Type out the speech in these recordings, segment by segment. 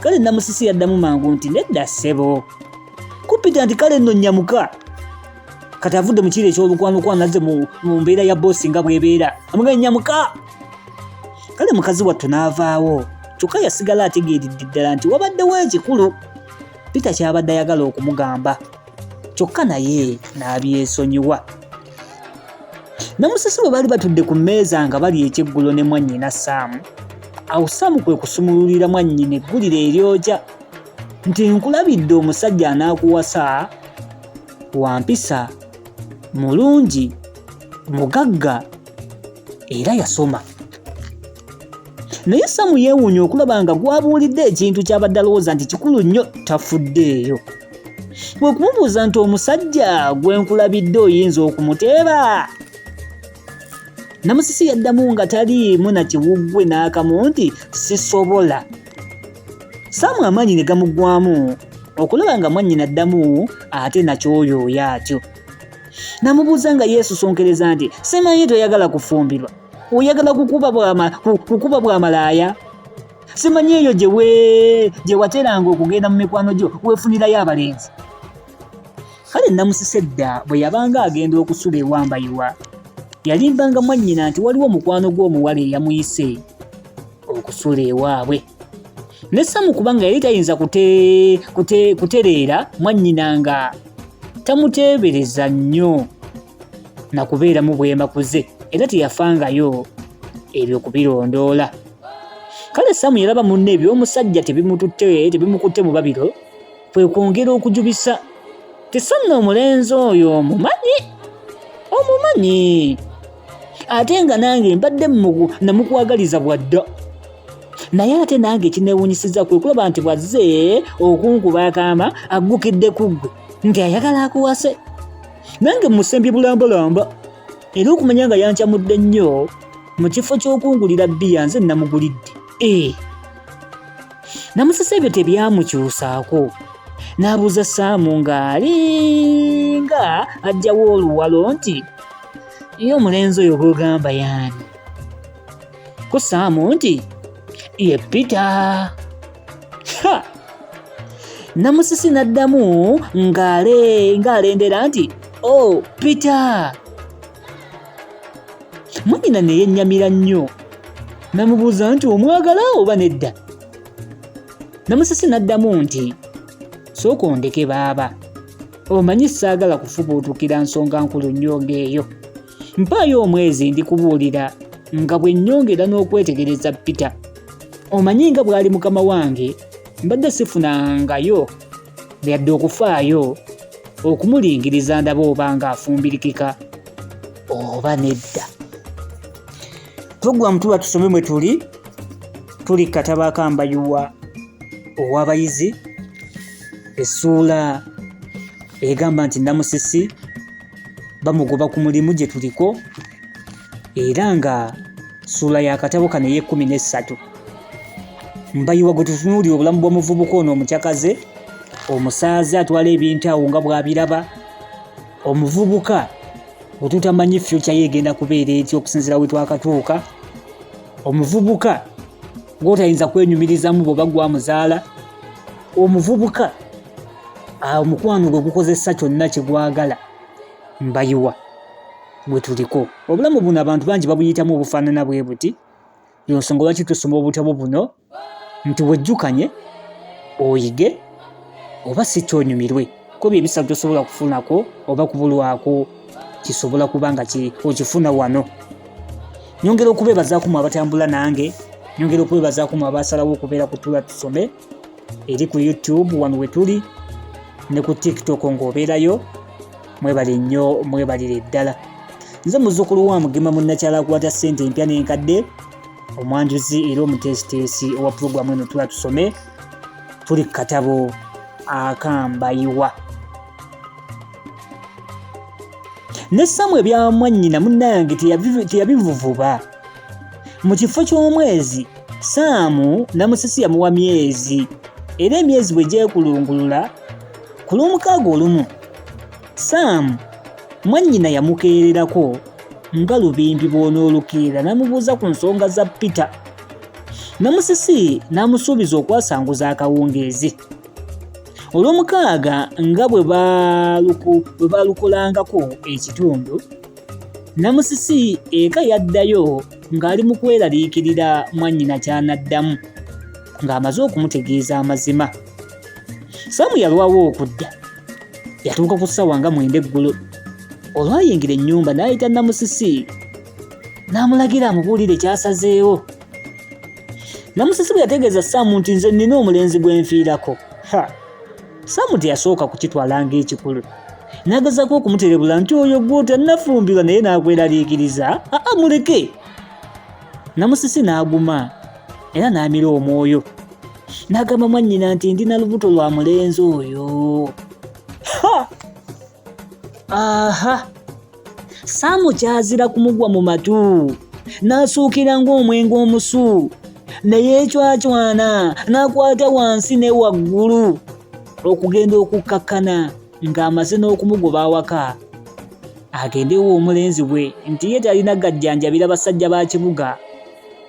kale namusisi yaddamu mangu nti nedda ssebo kuppita nti kale nno nnyamuka kati avudde mu kiiro eky'olukwanokwano azze mu mbeera ya boosi nga bw'ebeera amugaye nnyamuka kale mukazi wattu n'avaawo kyokka yasigala ategeeridde ddala nti wabaddewo ekikulu pita kyabadde ayagala okumugamba kyokka naye n'abyesonyiwa ne musisi bwe bali batudde ku mmeeza nga bali ekyeggulo ne mwannyina saamu awo saamu kwe kusumululira mwannyina eggulira eryoja nti nkulabidde omusajja anaakuwasa wampisa mulungi mugagga era yasoma naye samu yeewuunya okulaba nga gwabuulidde ekintu ky'abadde alowooza nti kikulu nnyo tafuddeeyo kwe kumubuuza nti omusajja gwe nkulabidde oyinza okumuteeba namusisi yaddamu nga taliimu na kiwuggwe n'akamu nti sisobola samu amaanyi ne gamuggwamu okulaba nga mwannyina addamu ate nakyoyo oyo atyo namubuuza nga yeesusonkereza nti simanyi toyagala kufumbirwa oyagala kukuba bwama kukuba bwa malaaya simanyi eyo gyewe gye wateranga okugenda mu mikwano gyo weefunirayo abalenzi kale namusise dda bwe yabanga agenda okusula ewambayiwa yalimbanga mwannyina nti waliwo omukwano gw'omuwala eyamuyise okusula ewaabwe ne samu kubanga yali tayinza kutereera mwannyina nga tamuteebereza nnyo na kubeeramu bwemakuze era teyafangayo ebyo kubirondoola kale samu yalaba munne ebyomusajja tebimututte tebimukutte mu babiro kwe kwongera okujubisa tisanna omulenzi oyo omumanyi omumanyi ate nga nange mbadde mugu namukwagaliza bwadda naye ate nange ekinewunyisiza kwe kulaba nti bwazze okunkuba akaama aggukidde ku ggwe nti ayagala akuwase nange musembye bulambalamba era okumanya nga yancamudde nnyo mu kifo ky'okungulira bbiya nze namugulidde e eh. namusesa ebyo tebyamukyusaako n'abuuza saamu ng'alinga ajjawo oluwalo nti ye omulenzi oyo gwogamba yaani ku saamu nti ye pita namusisi n'addamu ng'alendera nti o oh, pita mwannyina ne yennyamira nnyo namubuuza nti omwagala oba nedda namusisi n'addamu nti sooka ondeke baaba omanyi saagala kufubuutukira nsonga nkulu nnyo ng'eyo mpaayo omwezi ndikubuulira nga bwe nnyongera n'okwetegereza pita omanyi nga bw'ali mukama wange mbadde sifunangayo yadde okufaayo okumulingiriza ndaba oba ng'afumbirikika oba nedda puroguramu tuba tusome mwe tuli tuli kataba akambayuwa ow'abayizi essuula egamba nti namusisi bamugoba ku mulimu gye tuliko era nga ssuula ya katabo kano ey'ekkumi n'essatu mbayiwa gwe tutunuulira obulamu bw'omuvubuka ono omucakaze omusaaze atwala ebintu awo nga bw'abiraba omuvubuka bwe tutamanyi fyukya ye egenda kubeera eti okusinziira we twakatuuka omuvubuka gwotayinza kwenyumirizamu bwoba gwamuzaala omuvubuka omukwano gwe gukozesa kyonna kyegwagala mbayiwa bwe tuliko obulamu buno abantu bangi babuyitamu obufaanana bwe buti yonsonga lwaki tusoma obutabo buno nti wejjukanye oyige oba si kyonyumirwe kuba ebisatu tosobola kufunako oba kubulwako kisobola kuba nga okifuna wano nyongera okubeebazaako mu abatambula nange nyongera okubeebazaako mu abasalawo okubeera ku tula tusome eri ku youtube wano we tuli ne ku tiktok ng'obeerayo mwebale nnyo mwebalire ddala nze muzukulu wa mugema munnakyala akwata ssente empya n'enkadde omwanjuzi era omuteesiteesi owa pulogulaamu eno tula tusome tuli ku katabo akambayiwa ne samu ebyamwannyina munnange teyabivuvuba mu kifo ky'omwezi saamu namusisi yamuwa myezi era emyezi bwe gyekulungulula ku lw'omukaaga olumu Sam mwannyina yamukeererako nga lubimbi bw'onoolukeera n'amubuuza ku nsonga za Peter. Namusisi n'amusuubiza okwasanguza akawungeezi. Olwomukaaga nga bwe baalukolangako ekitundu, Namusisi eka yaddayo ng'ali mu kweraliikirira mwannyina ky'anaddamu ng'amaze okumutegeeza amazima. Sam yalwawo okudda. yatuuka ku ssaawa nga mwenda eggulo olwayingira ennyumba n'ayita namusisi n'amulagira amubuulire kyasazeewo namusisi bwe yategeeza saamu nti nze nnina omulenzi gwenfiirako ha saamu teyasooka kukitwala ng'ekikulu n'agezako okumuterebula nti oyo gw'otannafumbirwa naye n'akweraliikiriza aa muleke Namusisi n'aguma era n'amira omwoyo n'agamba mwannyina nti ndi na lubuto lwa mulenzi oyo. Aha! Saamu kyazira kumugwa mu matu n'asuukira ng'omwenge omusu ne yeecwacwana n'akwata wansi ne waggulu okugenda okukkakkana ng'amaze n'okumugoba awaka agendewo omulenzi bwe nti ye talina gajjanjabira basajja ba kibuga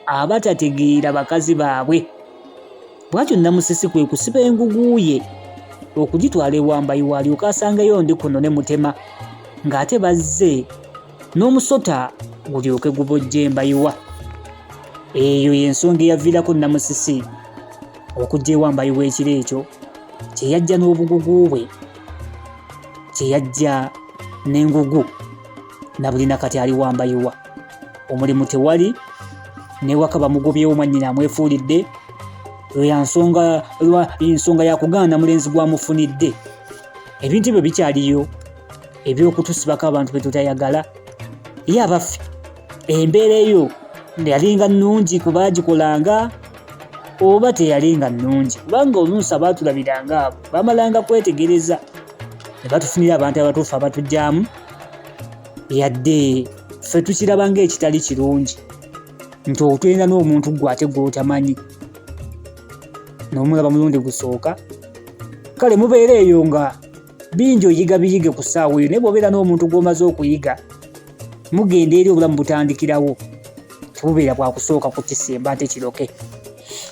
abatategeera bakazi baabwe bwatyo namusisi kwe kusiba engugu ye okugitwala ewambayi waalyoka asangeyo ndi kuno ne mutema ng'ate bazze n'omusota gulyoke gubojja embayiwa eyo y'ensonga eyaviirako namusisi okujja ewa mbayiwa ekiro ekyo kyeyajja n'obugugu bwe kyeyajja n'engugu na buli nakati ali wa mbayiwa omulimu tewali newaka bamugobyewo mwannyina amwefuulidde ensonga yakugaana mulenzi gwamufunidde ebintu ebyo bikyaliyo ebyokutusibako abantu betutayagala ye abaffe embeera eyo yalinga nungi kubagikolanga oba teyalinga nungi kubanga oluusi abaatulabiranga abo bamalanga kwetegereza ne batufunira abantu abatuufu abatugyamu yadde ffe tukiraba ngaekitali kirungi nti otwenda n'omuntu gwe ate gwotamanyi nomulaba mulundi gusooka kale mubeera eyo nga bingi oyiga biyige ku ssaawa eyo naye bwobeera n'omuntu gw'omaze okuyiga mugenda eri obulamu butandikirawo tebubeera bwakusooka ku kisemba ate kiroke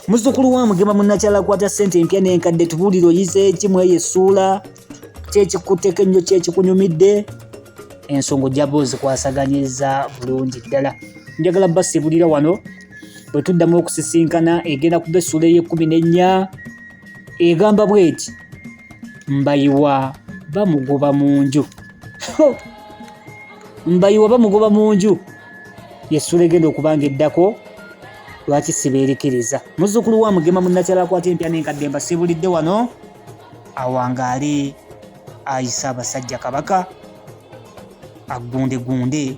muzukulu wa mugema munakyala kwata ssente empya n'enkadde tubuulire oyize eki mu eyo essuula kyekikutteko ennyo kyekikunyumidde ensonga ojjaba ozikwasaganyiza bulungi ddala njagala basibulira wano bwe tuddamu okusisinkana egenda kuba essuula ey'ekkumi n'ennya egamba bweti mbayiwa bamugoba mu nju mbayiwa bamugoba mu nju yesula egenda okuba nga eddako lwaki sibeerikiriza muzzukulu wa mugema munnakyala akwata empya n'enkadde mbasibulidde wano awangaale ayisa abasajja kabaka aggundegunde